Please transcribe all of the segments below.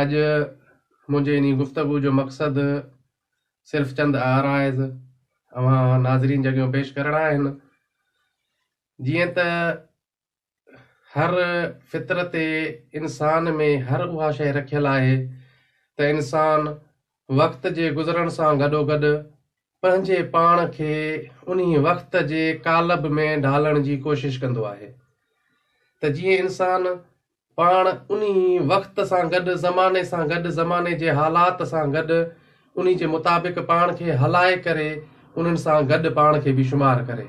اڄ منهنجي انهي گفتگو جو مقصد صرف چند آرائز اوهان ناظرين جڳيون پيش ڪرڻا آهن. جيئن ته هر فطرت انسان ۾ هر اها شيء رکيل آهي ته انسان وقت جي گذرڻ سان گڏوگڏ پنهنجي پاڻ کي انهي وقت جي قالب ۾ ڍالڻ جي ڪوشش ڪندو آهي ته جيئن انسان پاڻ انهي وقت سان گڏ زماني سان گڏ زماني جي حالات سان گڏ انهي جي مطابق پاڻ کي هلائي ڪري انهن سان گڏ پاڻ کي به شمار ڪري.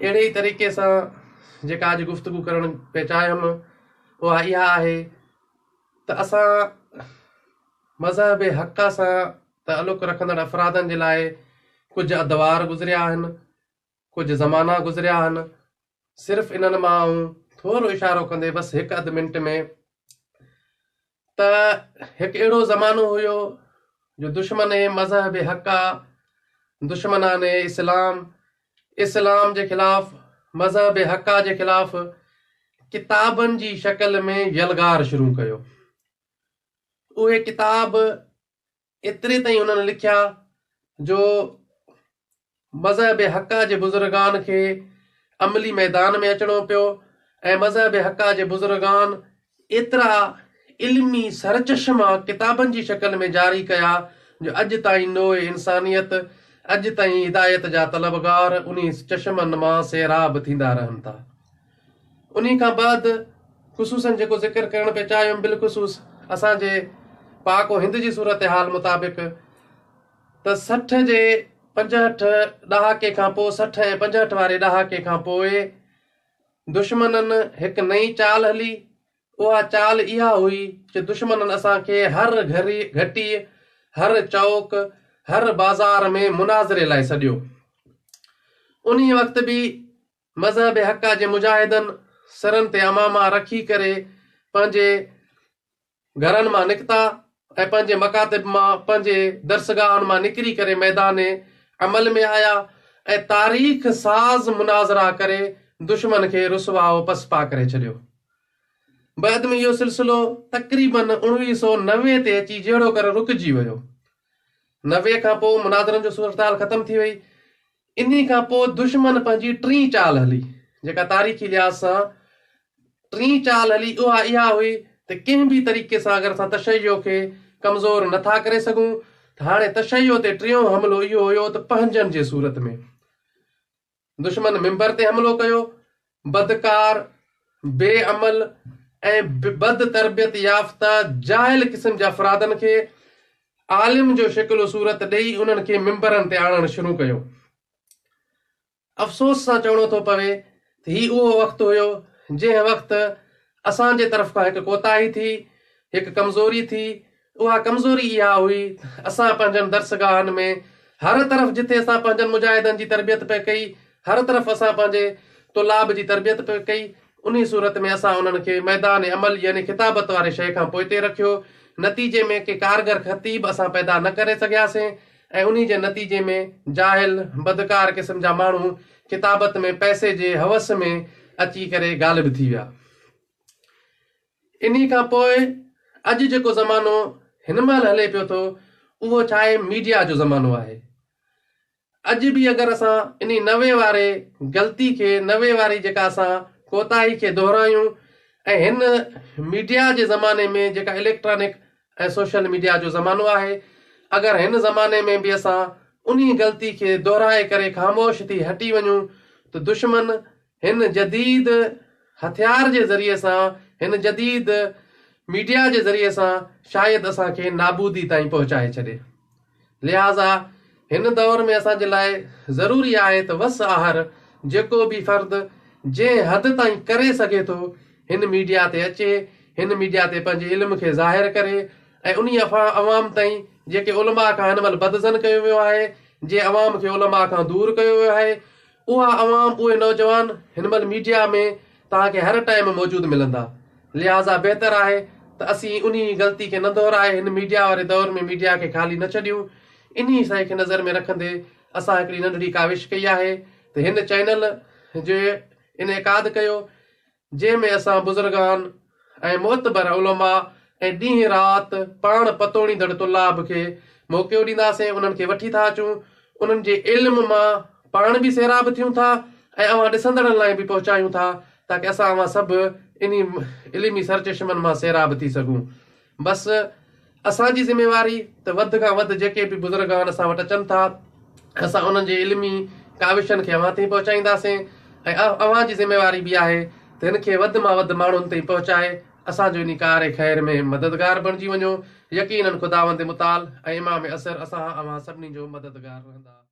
اهڙي ئي طريقي سان جيڪا اڄ گفتگو ڪرڻ پئي چاهيم اها اها آهي ته اسان مذهبي حق سان تعلق رکندڙ افرادن جي لاء ڪجهه ادوار گذريا آهن، ڪجهه زمانا گذريا آهن، صرف انهن مان آئون ٿورو اشارو ڪندي بس هڪ اڌ منٽ ۾ ته هڪ اهڙو زمانو هيو جو دشمن مذهب حق، دشمنان اسلام اسلام جي خلاف، مذهب حقه جي خلاف ڪتابن جي شڪل ۾ يلغار شروع ڪيو. اهي ڪتاب ايتري تائين انهن لکيا جو مذهب حقه جي بزرگان کي عملي ميدان ۾ اچڻو پيو ۽ مذهب حقه جي بزرگان ايترا علمي سرچشما ڪتابن جي شڪل ۾ جاري ڪيا جو اڄ تائين نوع انسانيت اڄ تائين هدايت جا طلبگار انهي چشمن مان سيراب ٿيندا رهن ٿا. انهي کان بعد خصوصاً جيڪو ذڪر ڪرڻ پئي چاهيم بالخصوص اسان جي پاڪ و هند جي صورتحال مطابق ته سٺ جي پنجهٺ ڏهاڪي کان پوء سٺ ۽ پنجهٺ واري ڏهاڪي کان پوء دشمنن هڪ نئين چال هلي، اها چال اها هئي جو دشمنن اسان کي هر گهري گهٽيء، هر چوڪ، هر بازار ۾ مناظري لاء سڏيو. انهيء وقت به مذهب حقه جي مجاهدن سرن تي عماما رکي ڪري پنهنجي گهرن مان نڪتا ۽ پنهنجي مڪاتب مان پنهنجي درسگاهن مان نڪري ڪري ميدان عمل ۾ آيا ۽ تاريخ ساز مناظرا ڪري دشمن کي رسوا و پسپا ڪري ڇڏيو. بعد ۾ اهو سلسلو تقريباً اوڻويهه سؤ نوي تي اچي جهڙو ڪر رڪجي ويو. نوي کان پوء مناظرن جو صورتحال ختم ٿي وئي. انهي کان پوء دشمن پنهنجي ٽين چال هلي، جيڪا تاريخي لحاظ سان ٽين چال هلي اها اها هئي ته ڪنهن به طريقي سان اگر اسان تشيع کي ڪمزور نه ٿا ڪري سگهون ته هاڻي تشيع تي ٽيون حملو اهو هيو ته پنهنجن جي صورت ۾. دشمن منبر تي حملو ڪيو بدڪار، بي عمل ۽ بد تربيت يافته جاهل قسم جي افرادن کي عالم جو شڪل و صورت ڏئي انهن کي منبرن تي آڻڻ شروع ڪيو. افسوس سان چوڻو ٿو پوي ته هي اهو وقت هيو جنهن وقت اسان جي طرف کان هڪ ڪوتاهي ٿي، هڪ ڪمزوري ٿي، اها ڪمزوري اها هئي اسان پنهنجن درسگاهن ۾ هر طرف جٿي اسان پنهنجن مجاهدن جي تربيت پئي ڪئي هر طرف اسان پنهنجي طلاب جي تربيت پئي ڪئي انهي صورت ۾ اسان انهن کي ميدان عمل يعني خطابت واري شيء کان پوئتي رکيو نتيجي ۾ ڪي ڪارگر خطيب اسان پيدا نه ڪري سگهياسين ۽ انهي جي نتيجي ۾ جاهل بدڪار قسم جا ماڻهو خطابت ۾ پئسي جي حوس ۾ اچي ڪري غالب ٿي ويا. انهي کان پوء اڄ جيڪو زمانو هن مهل هلي پيو ٿو اهو ڇاهي ميڊيا جو زمانو آهي. اڄ به اگر اسان انهي نوي واري غلطي کي نوي واري جيڪا اسان ڪوتاهي کي دهرايون ۽ هن ميڊيا جي زماني ۾ جيڪا اليڪٽرانڪ ۽ سوشل ميڊيا جو زمانو آهي اگر هن زماني ۾ به اسان انهي غلطي کي دهرائي ڪري خاموش ٿي هٽي وڃون ته دشمن هن جديد هٿيار جي ذريعي سان، هن جديد ميڊيا جي ذريعي سان شايد اسان کي نابودي تائين پهچائي ڇڏي. لهٰذا هن دور ۾ اسان جي لاء ضروري آهي ته وس آهر جيڪو به فرد جنهن حد تائين ڪري سگهي ٿو هن ميڊيا تي اچي، هن ميڊيا تي پنهنجي علم کي ظاهر ڪري ۽ انهي عوام تائين جيڪي علماء کان هن مهل بدظن ڪيو ويو آهي، جنهن عوام کي علماء کان دور ڪيو ويو آهي، اها عوام، اهي نوجوان هن مهل ميڊيا ۾ توهان کي هر ٽائيم موجود ملندا، لهٰذا بهتر آهي ته اسين انهي غلطي کي نه دهرائي هن ميڊيا واري دور ۾ ميڊيا کي خالي نه ڇڏيون، انهي سئي کي نظر ۾ رکندي اسان هڪڙي ننڍڙي ڪاوش ڪئي آهي ته هن چئنل جو انعقاد ڪيو جنهن ۾ اسان بزرگان ۽ معتبر علماء ۽ ڏينهن رات پاڻ پتوڙيندڙ طلاب کي موقعو ڏينداسين انهن کي وٺي ٿا اچون انهن جي علم مان پاڻ به سيراب ٿيون ٿا ۽ اوهان ڏسندڙن لاء به پهچايون ٿا تاڪه اسان اوهان سڀ انهي علمي سرچشمن مان سيراب ٿي سگهون. بس اسان جي ذميواري ته وڌ کان وڌ جيڪي به بزرگان اسان وٽ اچن ٿا اسان انهن جي علمي ڪاوشن کي اوهان تائين پهچائينداسين ۽ اوهان جي ذميواري به آهي ته هن کي وڌ مان وڌ ماڻهن تائين پهچائي اسان جو انهي ڪار خير ۾ مددگار بڻجي وڃو يقينن خداوند متعال ۽ امام عصر اسان اوهان سڀني جو مددگار رهندا.